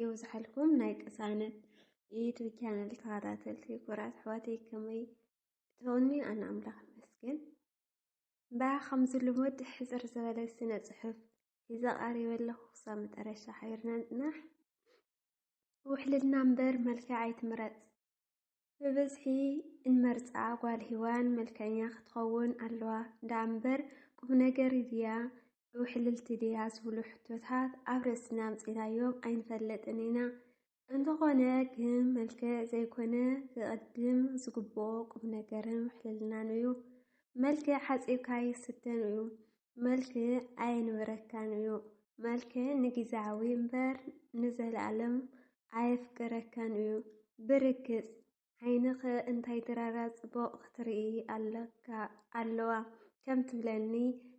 የብዝሓልኩም ናይ ቅሳነት የዩቱብ ቻነል ተኸታተልቲ ኩራት ኣሕዋተይ ከመይ ትኾኒ ኣነ ኣምላኽ ይመስገን እምበያ ከምዚ ልሙድ ሕፅር ዝበለ ስነ ፅሑፍ ሒዘ ቀሪበ ኣለኹ ክሳብ መጠረሻ ሓቢርና ንፅናሕ ውሕልልና እምበር መልክዕ ኣይትምረፅ ብብዝሒ እንመርጻ ጓል ሂዋን መልከኛ ክትኸውን ኣለዋ ዳኣምበር ቁምነገር ድያ ውሕልልቲ ድያ ዝብሉ ሕቶታት ኣብ ርእስና ኣምጺናዮም ኣይንፈልጥን ኢና። እንተኾነ ግን መልክዕ ዘይኮነ ክቕድም ዝግብኦ ቁምነገርን ውሕልልናን እዩ። መልክዕ ሓጺብካ ኣይስተን እዩ። መልክዕ ኣየንብረካን እዩ። መልክዕ ንጊዛዊ እምበር ንዘልኣለም ኣየፍቅረካን እዩ። ብርግጽ ዓይንኺ እንታይ ድራራ ጽቡቕ ክትርኢ ኣለካ ኣለዋ ከም ትብለኒ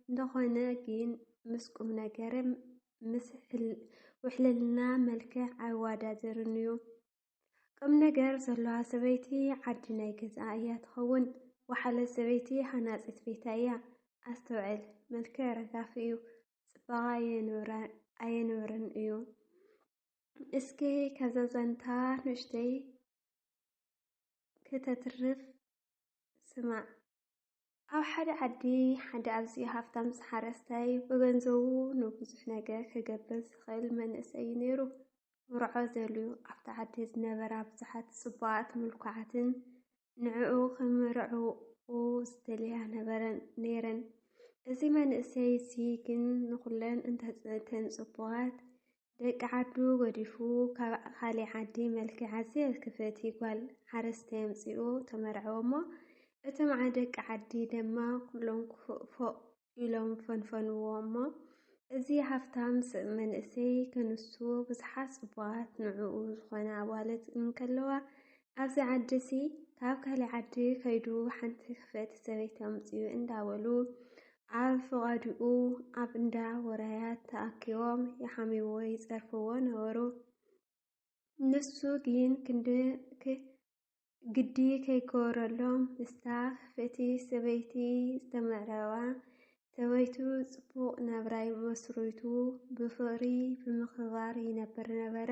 እንተኾነ ግን ምስ ቁምነገር ምስ ውሕልልና መልክዕ ኣይዋዳደርን እዩ። ቅም ነገር ዘለዋ ሰበይቲ ዓዲ ናይ ገዛኣ እያ ትኸውን። ወሓለ ሰበይቲ ሃናፂት ቤታ እያ። ኣስተውዕል። መልክዕ ረጋፊ እዩ። ፅባቐ ኣየንብርን እዩ። እስኪ ከዛ ዛንታ ንእሽተይ ክተትርፍ ስማዕ። ኣብ ሓደ ዓዲ ሓደ ኣዝዩ ሃፍታም ሓረስታይ ብገንዘቡ ንብዙሕ ነገር ክገብር ዝኽእል መንእሰይ እዩ ነይሩ። ክምርዖ ደልዩ። ኣብቲ ዓዲ ዝነበራ ብዙሓት ጽቡቓትን ምልኩዓትን ንዕኡ ክምርዕውኦ ዝደልያ ነበረን ነይረን። እዚ መንእሰይ እዚ ግን ንኹለን እተን ጽቡቓት ደቂ ዓዱ ገዲፉ ካብ ኻሊእ ዓዲ መልኪዓ ዘየልከፈቲ ጓል ሓረስታይ ኣምጺኡ ተመርዐወ'ሞ እቶምዓ ደቂ ዓዲ ደማ ኩሎም ክፉእ ፎእ ኢሎም ፈንፈንዎ እሞ እዚ ሃፍታም ስብ መንእሰይ ከንሱ ብዙሓት ጽቡቓት ንዕኡ ዝኾነ ኣዋልድ እንከለዋ ኣብዚ ዓዲ'ሲ ካብ ካሊእ ዓዲ ከይዱ ሓንቲ ክፍእቲ ሰበይቲ ኣምጺኡ እንዳበሉ ኣብ ፍቓድኡ ኣብ እንዳ ወራያት ተኣኪቦም ይሓምይዎ ይጸርፍዎ ነበሩ። ንሱ ግን ክንዲ ግዲ ከይገበረሎም ምስታ ክፍእቲ ሰበይቲ ዝተመዕረባ ሰበይቱ ጽቡቕ ናብራይ መስሪቱ ብፍቕሪ ብምክብባር ይነብር ነበረ።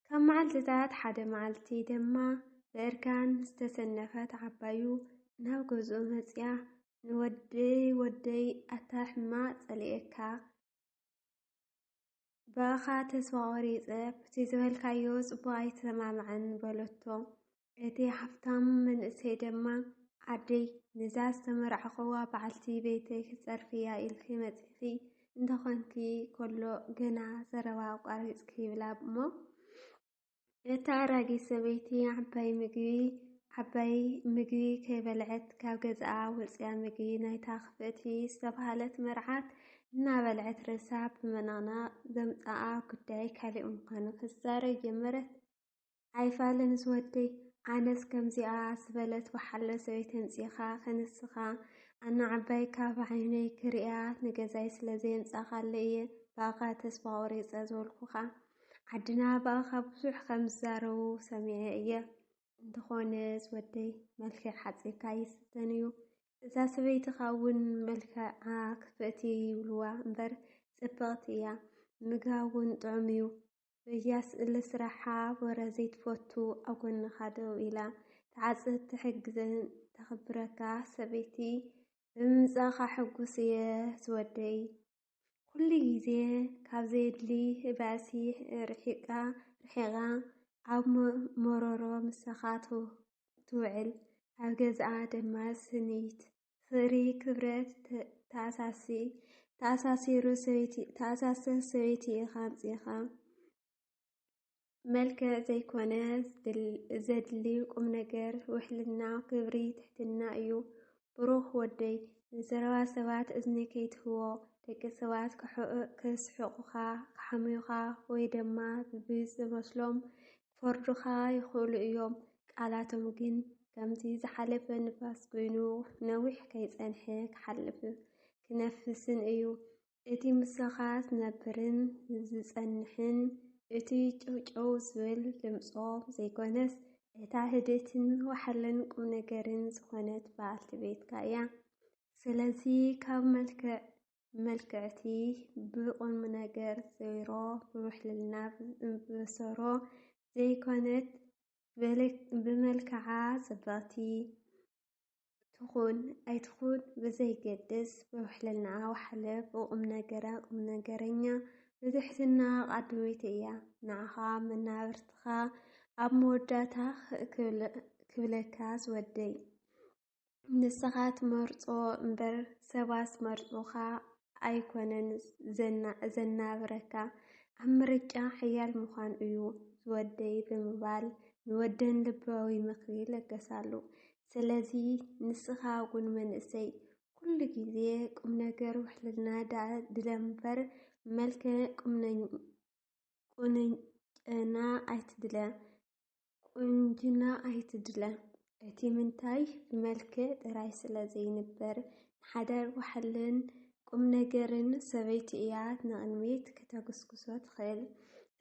ካብ መዓልትታት ሓደ መዓልቲ ድማ ብእርጋን ዝተሰነፈት ዓባዩ ናብ ገዝኡ መጽያ ንወደይ ወደይ ኣታ ሕማቅ ጸሊኤካ ብኣኻ ተስፋ ቆሪጸ ብቲ ዝበልካዮ ጽቡቅ ኣይተሰማምዐን በለቶ። እቲ ሃፍታም መንእሰይ ደማ ኣደይ ነዛ ዝተመርዓኹዋ በዓልቲ ቤተይ ክትጸርፍያ ኢልኪ መጺኺ እንተኾንኪ ከሎ ገና ዘረባ ኣቋሪጽኪ ይብላ እሞ እታ ኣራጊት ሰበይቲ ዓባይ ምግቢ ዓባይ ምግቢ ከይበልዐት ካብ ገዛኣ ወፅያ ምግቢ ናይታ ክፍእቲ ዝተብሃለት መርዓት እናበልዐት ርእሳ ብምንቕናቕ ዘምፀኣ ጉዳይ ካሊእ ምዃኑ ክትዛረብ ጀመረት። ኣይፋልንስ ወደይ ኣነስ ከምዚኣ ዝበለት ወሓለ ሰበይቲ ኣምፂእኻ ክንስኻ ኣነ ዓባይ ካብ ዓይነይ ክርእያ ንገዛይ ስለ ዘየምፃእኻለይ እየ ብኣኻ ተስፋ ቆሪፀ ዝበልኩኻ ዓድና ብኣኻ ብዙሕ ከም ዝዛረቡ ሰሚዐ እየ። እንተኾነስ ወደይ መልክዕ ሓጺርካ ይፍተን እዩ። እዛ ሰበይትኻ እውን መልክዓ ክፍእቲ ይብሉዋ እምበር ጽብቕቲ እያ። ምግባ እውን ጥዑም እዩ። በያስ እለ ስራሓ ወረ ዘይትፈቱ ኣብ ጎንኻ ደው ኢላ ትዓጽድ ትሕግዝን ተኽብረካ ሰበይቲ ብምምጻእካ ሕጉስ እየ ዝወደይ። ኩሉ ግዜ ካብ ዘየድሊ ባእሲ ርሒቃ ርሒቃ ኣብ መሮሮ ምሳኻ ትውዕል ኣብ ገዝኣ ድማ ስኒት ፍቅሪ ክብረት ተኣሳሲ ተኣሳሲሩ ሰበይቲ ተኣሳስር ሰበይቲ ኢኻ ኣምጺኻ መልክዕ ዘይኮነ ዘድሊ ቁም ነገር ውሕልና ክብሪ ትሕትና እዩ። ብሩኽ ወደይ ንዘረባ ሰባት እዝኒ ከይትህቦ ደቂ ሰባት ክስሕቑኻ ክሓምዩኻ ወይ ድማ ብዝመስሎም ክፈርዱኻ ይኽእሉ እዮም። ቃላቶም ግን ከምቲ ዝሓለፈ ንፋስ ኮይኑ ነዊሕ ከይጸንሐ ክሓልፍ ክነፍስን እዩ። እቲ ምሳኻ ዝነብርን ዝጸንሕን እቲ ጨውጨው ዝብል ድምጾ ዘይኮነስ እታ ህድእትን ወሓለን ቁምነገርን ዝኾነት በዓልቲ ቤትካ እያ። ስለዚ ካብ መልክዕ መልክዕቲ ብቁምነገር ዜሮ ብውሕልልና ብሰሮ ዘይኮነት ብመልክዓ ጽብቕቲ ትኹን ኣይትኹን ብዘይገድስ ብውሕልናኣ ዋሕለ ብቑምነገራ ቁምነገረኛ ብትሕትና ቓዳመይቲ እያ ንዓኻ መናብርትኻ ኣብ መወዳእታ ክብለካ ዝወደይ ንስኻ ትመርጾ እምበር ሰባስ መርጾኻ ኣይኮነን ዘናብረካ፣ ኣብ ምርጫ ሓያል ምዃን እዩ ዝወደይ ብምባል ንወደን ልባዊ ምኽሪ ለገሳሉ። ስለዚ ንስኻ እውን መንእሰይ ኩሉ ግዜ ቁም ነገር ውሕልና ደኣ ድለምበር መልክዕ ቁንጨና ኣይትድለ። ቁንጅና ኣይትድለ እቲ ምንታይ ብመልክዕ ጥራይ ስለ ዘይንበር ንሓዳር ዋሕልን ቁም ነገርን ሰበይቲ እያ ንቕድሚት ክተጉስጉሶ ትኽእል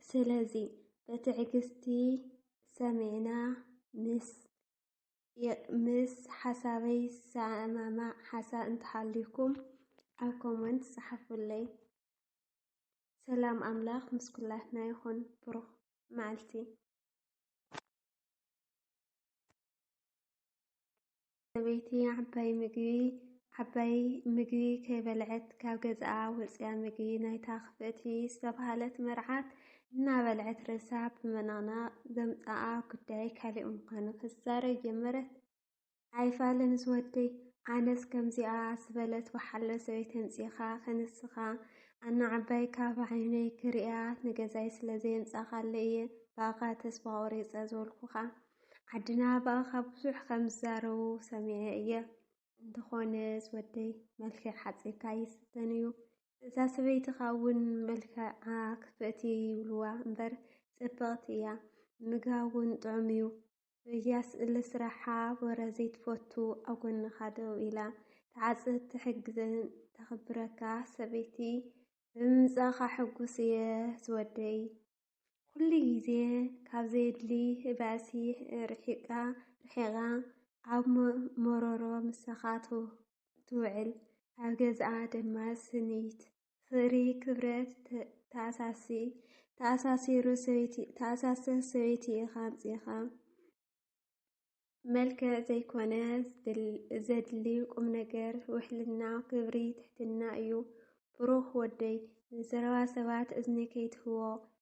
ስለዚ በትዕግስቲ ሰሚዕና ምስ ምስ ሓሳበይ ዝሰማማዕ ሓሳብ እንተሃልዩኩም ኣብ ኮመንት ጸሓፉለይ። ሰላም ኣምላኽ ምስ ኩላትና ይኹን። ብሩኽ መዓልቲ ሰበይቲ ዓባይ ምግቢ ዓባይ ምግቢ ከይበልዐት ካብ ገዝኣ ወፅያ ምግቢ ናይታ ክፍእቲ ዝተብሃለት መርዓት እናበልዐት ርእሳ ብምንቕናቕ ዘምፅኣ ጉዳይ ካሊእ ምዃኑ ክትዛረብ ጀመረት። ኣይፋልንስ ወደይ ኣነስ ከምዚኣ ዝበለት ብሓሎ ሰበይቲ ኣምጺእኻ ክንስኻ ኣናዓባይካ ብዓይነይ ክርእያ ንገዛይ ስለ ዘየምጻኻለይ እየ ብኣኻ ተስፋ ቆሪጸ ዝበልኩኻ ዓድና ብኣኻ ብዙሕ ከም ዝዛረቡ ሰሚዐ እየ እንተኾነስ ወደይ መልክዕ ሓጺርካ ይስተን እዩ እዛ ሰበይትኻ እውን መልክዓ ክፍእቲ ይብልዋ እምበር ጽብቕቲ እያ ምግባ እውን ጥዑም እዩ በያስ እለ ስራሓ ወረ ዘይትፈቱ ኣብ ጎንኻ ደው ኢላ ትዓጽድ ትሕግዝን ተኽብረካ ሰበይቲ ብምምጻእኻ ሕጉስ እየ ዝወደይ። ኩሉ ግዜ ካብ ዘየድሊ ባእሲ ርሒቃ ርሒቃ ኣብ ሞሮሮ ምሳኻ ትውዕል ኣብ ገዝኣ ደማ ስኒት ፍሪ ክብረት ተኣሳሲ ተኣሳሲሩ ሰበይቲ ተኣሳሰ ሰበይቲ ኢኻ ኣምፂኻ መልክዕ ዘይኮነ ዘድሊ ቁም ነገር ውሕልና ክብሪ ትሕትና እዩ። ብሩኽ ወደይ ንዘረባ ሰባት እዝኒ ከይትህቦ